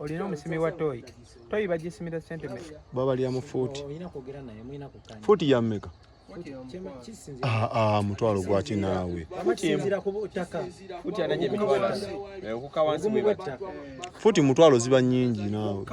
olina omusimi wa toyi toyi bagisimira sente meka babalya mu fuuti fuuti ya meka ah, ah, mutwalo gwaki naawe fuuti mutwalo ziba nyingi naawe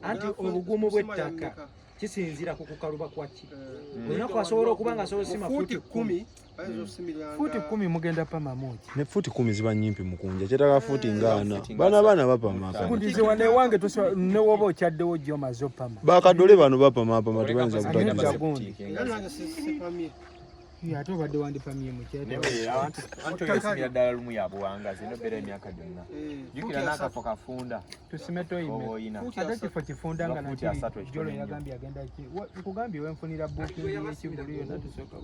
anti obugumu bw'ettaka kisinzira ku kukaluba kwaki mm. olina kwasobola okuba nga asobola osima fuuti kumi fuuti kumi mugenda pama muki ne fuuti kumi ziba nyimpi mukunja kyetaka fuuti eh, ngaana baana baana bapamakundiziwa newange newoba okyaddewo gyo maze opama bakadole bano bapamapama tebayinza kutagiza ate obadde wandipamye mukyatakasimira ddala lumu ya buwangazi eno beera emyaka gyonna eh, jukira n'akafo kafunda tusime toyimeoyina ate kifo kifunda nga nakijolo yagambye agenda ki nkugambye wenfunira bukingi y'ekivulu yonna tusooka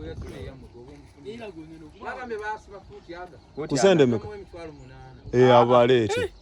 kusendemeka eh, abaleete eh.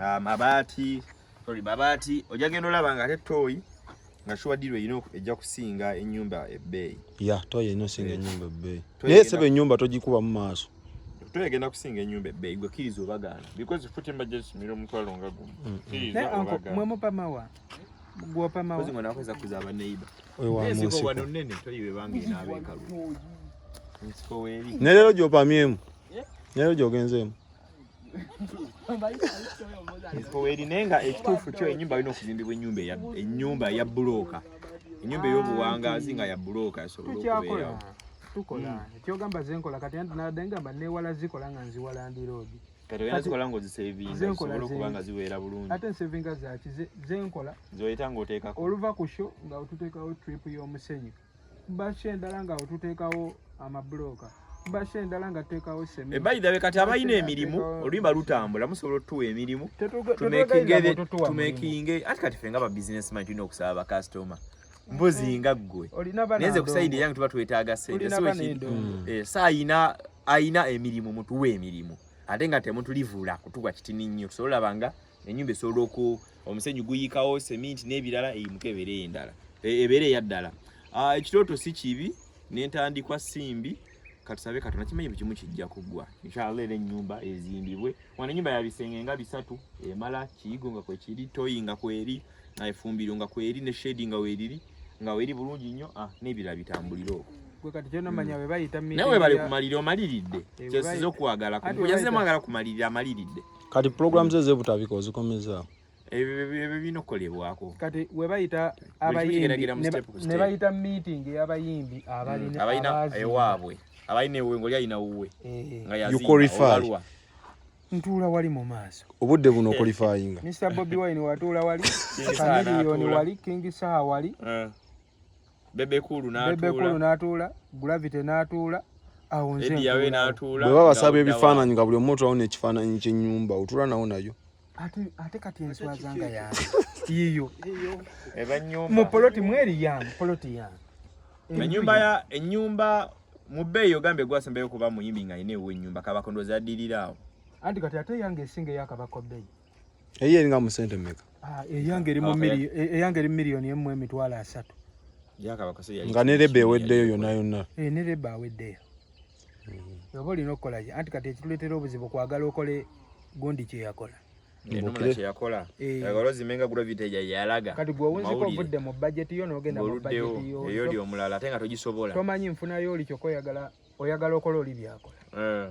ah, mabaati sorry mabaati ojja genda olaba nga ate tooyi nga shuwa diro ino ejja kusinga enyumba ebbeeyi ya tooyi ino singa eh. enyumba ebbeeyi naye sebe enyumba tojikuba mu maaso tooyi egenda kusinga enyumba ebbeeyi gwe kiriza obagaana because futi mbajja kisumira omutwalo nga gumu mm. kiriza obagaana mwe mupamawa gwopamawa kozi mwana wakweza kuza abaneiba oyo wa munsi ko wano nene tooyi bebange n'abekalu nsiko weri ne lero gyopamyemu ne lero gyogenzeemu erine nga ekituufu kyo enyumba alina okuzimbibwa enyumba enyumba ya bulooka enyumba ey'obuwangaazi nga ya bulooka esobola okubeerawo tukola hmm. ekyogamba zenkola kati anti nadde ngamba newala zikola nga nziwala ndi roodi kati oyina zikola nga ozisevingasobola okuba nga ziweera bulungi ate nsevinga zaki zenkola zoyita ngaoteekako oluva ku sho nga otuteekawo trip y'omusenyu Bashe endala nga otuteekawo amabulooka bashe endala nga tuteekawo semi. Eh, by the way kati abalina emirimu oluyimba lutambula musobola otutuwa emirimu tumekinge ati kati ffe nga ba business man tulina okusaba bakasitoma mbuzi nga ggwe naye nze kusayidi eyange tuba twetaaga sente eh, saayina ayina emirimu mutuwa emirimu ate nga temutulivula kutuwa kitini nnyo tusobola banga enyumba esobola oku omusenyu guyikawo seminti n'ebirala eyimuka ebeere endala e, ebeere eya ddala ah, ekirooto si kibi n'entandikwa simbi katusabe katonda kimanyi buli kimu kijja kuggwa inshallah era ennyumba ezimbibwe wano ennyumba ya bisenge nga bisatu emala kiyigo nga kwekiri toyi nga kweri efumbiro nga kweri ne shedi nga weriri nga weri bulungi nnyo ah, n'ebirala bitambulire okwo nawe bali kumalira omaliridde kyesiza okuwagala kuyazemu agala kumalirira amaliridde kati program ze zebutabika ozikomezaawo ebyo binokolebwako kati webayita abayimbinebayita meeting yabayimbi abalina mm, ewaabwe abalina ewe ngoli alina wuwe eh. nga yaziibaluwa ntuula wali mu maaso obudde buno okolifayinga mr bobi wine watuula wali kamiliyoni wali king saha wali eh. bebe kulu natuula gravity natuula bweba basaba ebifaananyi nga buli omu otulawo nekifaananyi kyenyumba otula nawo nayo ate kati enswazanga yange yiyo mu poloti mweri yange poloti yange enyumba ya enyumba mu bbeeyi ogambye gwasembayo kuba muyimbi nga alina ewo enyumba kabakondoza addirira awo anti kati ate yange esinga eyakabako bbeeyi eyo eringa mu sente mmeka ah, eyange eri mu miliyo e, eyange eri miliyoni emu emitwalo asatu nga ne leba eweddeyo yonna yonna eh, ne leba aweddeyo mm-hmm. oba olina okukola ki anti kati ekituleetera obuzibu kwagala okole gundi kye yakola enumula kye yakola eh. agalozi menga gravity ya yalaga kati gwe owunzika ovudde mu budget yo n'ogenda mu budget yo eyo oli omulala ate nga togisobola tomanyi nfuna yo oli kyokka oyagala oyagala okola oli byakola eh.